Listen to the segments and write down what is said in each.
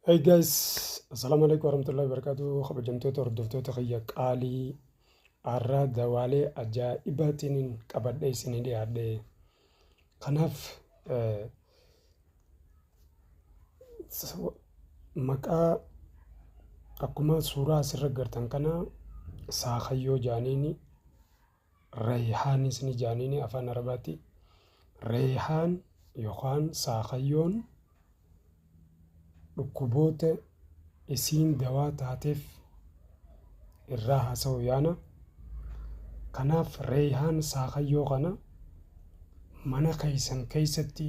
Hey guys, assalaamu alaikum warahmatullahi wabarakatuh. Kabajamtoota hordoftoota kiyya qaalii har'a dawaalee ajaa'ibaatiin qabadhee isinii dhiyaadhe. Kanaaf eh, s- maqaa akkuma suuraa asirra gartan kana saakayyoo jaaniini Rayhaanis ni jaaniini afaan arabaati. Rayhaan yookaan saakayyoon dhukkuboota isiin dawaa taateef irraa haasa'u yaana. Kanaaf rayhaan saakayyoo kana mana keessan keessatti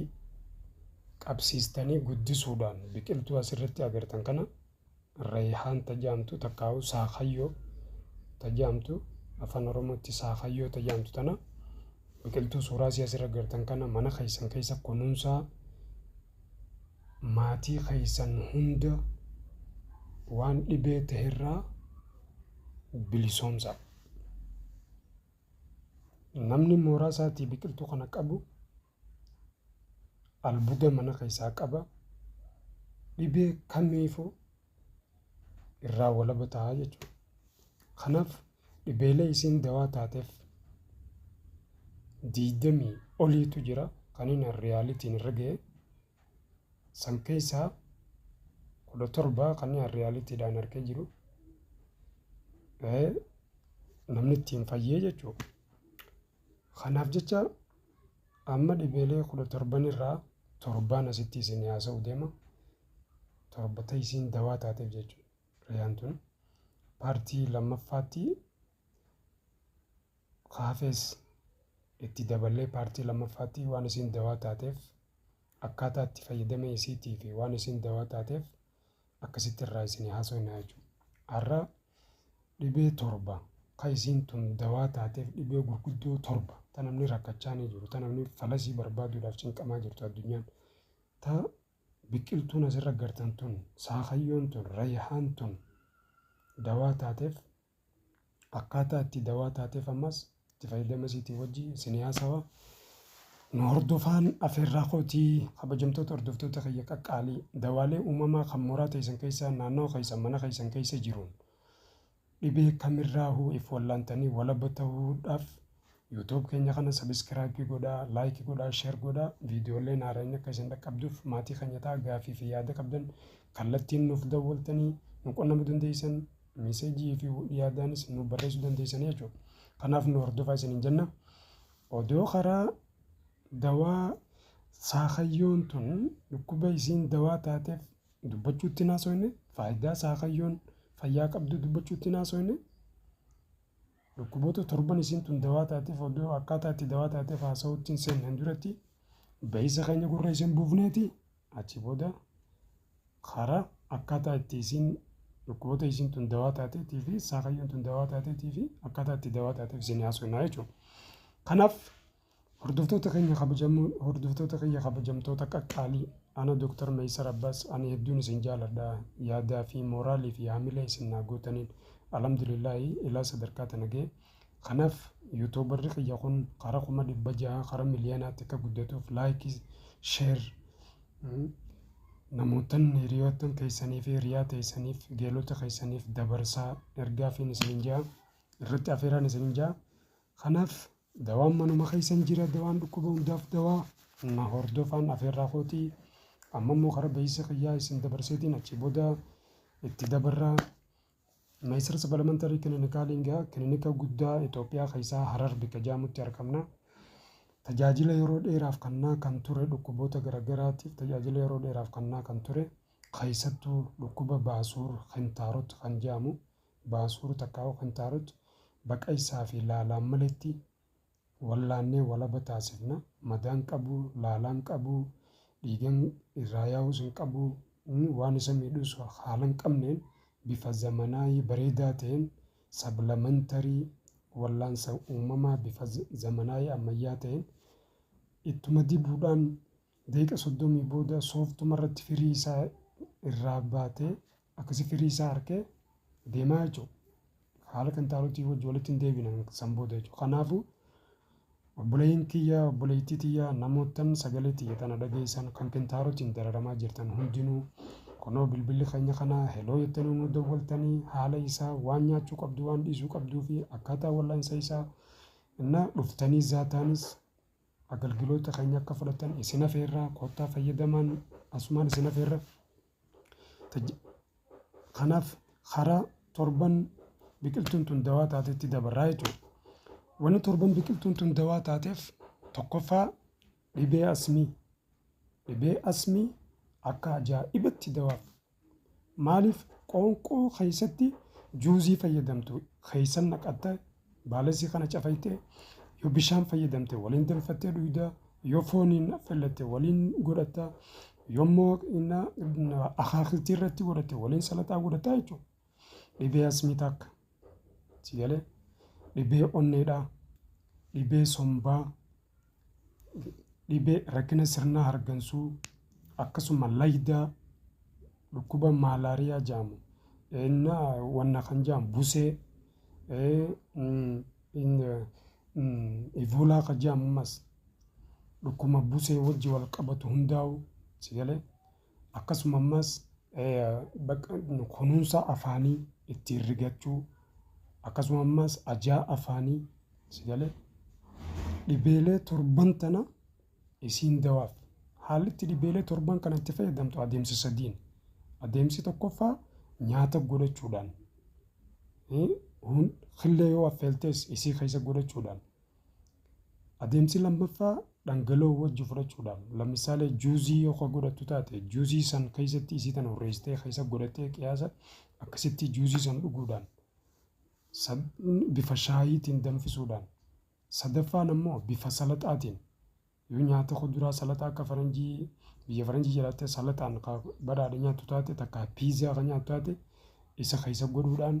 qabsiistanii guddisuudhaan biqiltuu asirratti agartan kana Reeyhaan ta jaamtu takkaahuu Saakayyoo ta jaamtu Afaan Oromootti Saakayyoo ta jaamtu tana biqiltuu suuraa isii asirra gartan kana mana keessan keessa kunuunsaa maatii keessan hunda waan dhibee ta'erraa bilisoomsaa. Namni mooraa isaatii biqiltuu kana qabu albuda mana keessaa qaba dhibee kamiifu irraa walaba ta'a jechuudha. Kanaaf dhibeelee isiin dawaa taateef diidamii oliitu jira kan inni riyaalitiin irra ga'e san keessaa kudha torba kan inni riyaaliitiidhaan argee jiru namni ittiin fayyee jechuudha. Kanaaf jecha Amma dhibeelee kudha torban irraa torbaan asitti isin haasa'u deema. Torbata isiin dawaa taateef jechuudha. Riyaan tun paartii lammaffaatti kaafees itti daballee paartii lammaffaatti waan isiin dawaa taateef akkaataa itti fayyadama isiitii fi waan isiin dawaa taateef akkasitti irraa isinii haasofnaa jechuudha. Har'a dhibee torba kan isiin tun dawaa taateef dhibee gurguddoo torba ta namni rakkachaa ni jiru ta namni falasii barbaaduudhaaf cinqamaa jirtu addunyaan ta biqiltuun asirra gartan tun saakayyoon tun rayahaan tun dawaa taateef Akkaataa itti dawaa taateef ammas itti fayyadama isiitii wajji isinii haasawa. Nu hordofaan afeerraa kootii kabajamtoota hordoftoota kiyya qaqqaalii dawaalee uumamaa kan mooraa teessan keessaa naannawa keessan mana keessan keessa jiruun dhibee kamirraahuu if wallaantanii walaba ta'uudhaaf YouTube keenya kana sabiskiraayipii godhaa, laayikii godhaa, sheer godhaa. Viidiyoolleen haarayni akka isin dhaqqabduuf maatii keenya ta'a. Gaafii fi yaada qabdan kallattiin nuuf dawwaltanii nu qunnamuu dandeessan. Miiseejii fi yaadaanis nu barreessuu dandeessan jechuudha. Kanaaf nu hordofaa isiniin jenna. Odoo karaa dawaa saakayyoon tun dhukkuba isiin dawaa taateef dubbachuutti hin haasofne, faayidaa saakayyoon fayyaa qabdu dubbachuutti hin haasofne. Dhukkuboota torban isiin tun dawaa taateef odoo akkaataa itti dawaa taateef haasawutti hin seenneen duratti bahiisa keenya gurra isiin buufneeti achi booda karaa akkaataa itti isiin dhukkuboota isiin tun dawaa taateetii fi saakayyoon tun dawaa taateetii fi akkaataa itti dawaa taateef isin haasofnaa jechuudha. Kanaaf Hordoftoota keenya kabajamoo hordoftoota kiyya kabajamtoota qaqqaalii ana Dr. Meysar Abbas ani hedduun isin jaaladha yaadaa fi mooraalii fi haamilee isin naa gootaniin alhamdulillahi ilaa sadarkaa tana ga'e kanaaf yuutuubarri kiyya kun kara kuma dhibba jaha kara miliyonaatti akka guddatuuf laayikii sheer namootan hiriyoottan keessanii fi hiriyaa teessaniif geelota keessaniif dabarsaa ergaa fi isin jaha irratti afeeraan isin jaha kanaaf Dawaan manuma keessan jira dawaan dhukkuba hundaaf dawaa na hordofaan afeerraa kootii amma immoo kara bahiisa kiyyaa isin dabarseetiin achi booda itti dabarraa Meesir Supplementary Clinical Inga kilinika guddaa Itoophiyaa keessaa Harar bika jaamutti argamna. Tajaajila yeroo dheeraaf kannaa kan ture dhukkuboota garaagaraatiif tajaajila yeroo dheeraaf kannaa kan ture keessattuu dhukkuba baasuur kintaarot kan jaamu baasuur takkaahuu kan taarut baqa isaa fi laalaan maletti wallaannee walaba taasifna madaan qabu laalaan qabu dhiigan irraa yaa'uus hin qabu waan isa miidhus haalan qabneen bifa zamanaayii bareedaa ta'een sablamantary wallaansa uumamaa bifa zamanaayii ammayyaa ta'een ittuma dibuudhaan daqiiqa soddomii booda sooftuma irratti firii isaa irraa baatee Akkasi firii isaa arkee deemaa jechuudha. Haala kan taalutii wajji walitti hin deebina san booda jechuudha. Kanaafuu obboleeyyiin kiyya obboleeyyitii tiyya namoottan sagalee tiyya tana dhageessan kan kintaarotiin dararamaa jirtan hundinuu kunoo bilbilli keenya kana heloo jettanii nu dawwaltanii haala isaa waan nyaachuu qabdu waan dhiisuu qabduu fi akkaataa wal'aansa isaa innaa dhuftanii zaataanis agalgiloota keenya akka fudhatan isin afeerraa koottaa fayyadamaan asumaan isin afeerra. Kanaaf karaa torban biqiltuun tun dawaa taatetti dabarraa jechuudha. Wanni torban biqiltuun tun dawaa taateef tokkoffaa dhibee asmii. Dhibee asmii akka ajaa'ibatti dawaaf. Maaliif qoonqoo keessatti juuzii fayyadamtu keessan naqatta Baalessi kana cafayxee yoo bishaan fayyadamte waliin danfattee dhuyda, yoo fooniin affeellatte waliin godhatta, yoommoo inna akaakiltii irratti godhatte waliin salaxaa godhatta jechuudha. Dhibee asmii takka si galee dhibee onneedhaa, dhibee sombaa, dhibee rakkina sirna hargansuu akkasuma laydaa dhukkuba maalaariyaa jedhamu inna wanna kan jedhamu busee eh, mm, in, eh, mm, ivoolaa kan jedhamu ammas dhukkuma busee wajji wal qabatu hundaa'u si galee Akkasuma ammas kunuunsa afaanii ittiin rigachuu akkasuma ammas ajaa afaanii si galee dhibeelee torban tana isiin dawaaf haalli itti dhibeelee torban kana itti fayyadamtu adeemsa sadiin adeemsi tokkoffaa nyaata godhachuudhaan killee yoo affeeltees isii keessa godhachuudhaan Adeemsi lammaffaa dhangala'oo wajji fudhachuudhaam. Lamissaalee juuzii yoo ka godhattu taate juuzii san keessatti isii tana hurreessitee keessa godhattee qiyaasa akkasitti juuzii san dhuguudhaan bifa shaayiitiin danfisuudhaan sadaffaan ammoo bifa salaxaatiin yoo nyaata kuduraa salaxaa akka faranjii biyya faranjii jiraattee salaxaan ka badhaadhe nyaattu taate takka piizaa ka nyaattu taate isa keessa godhuudhaan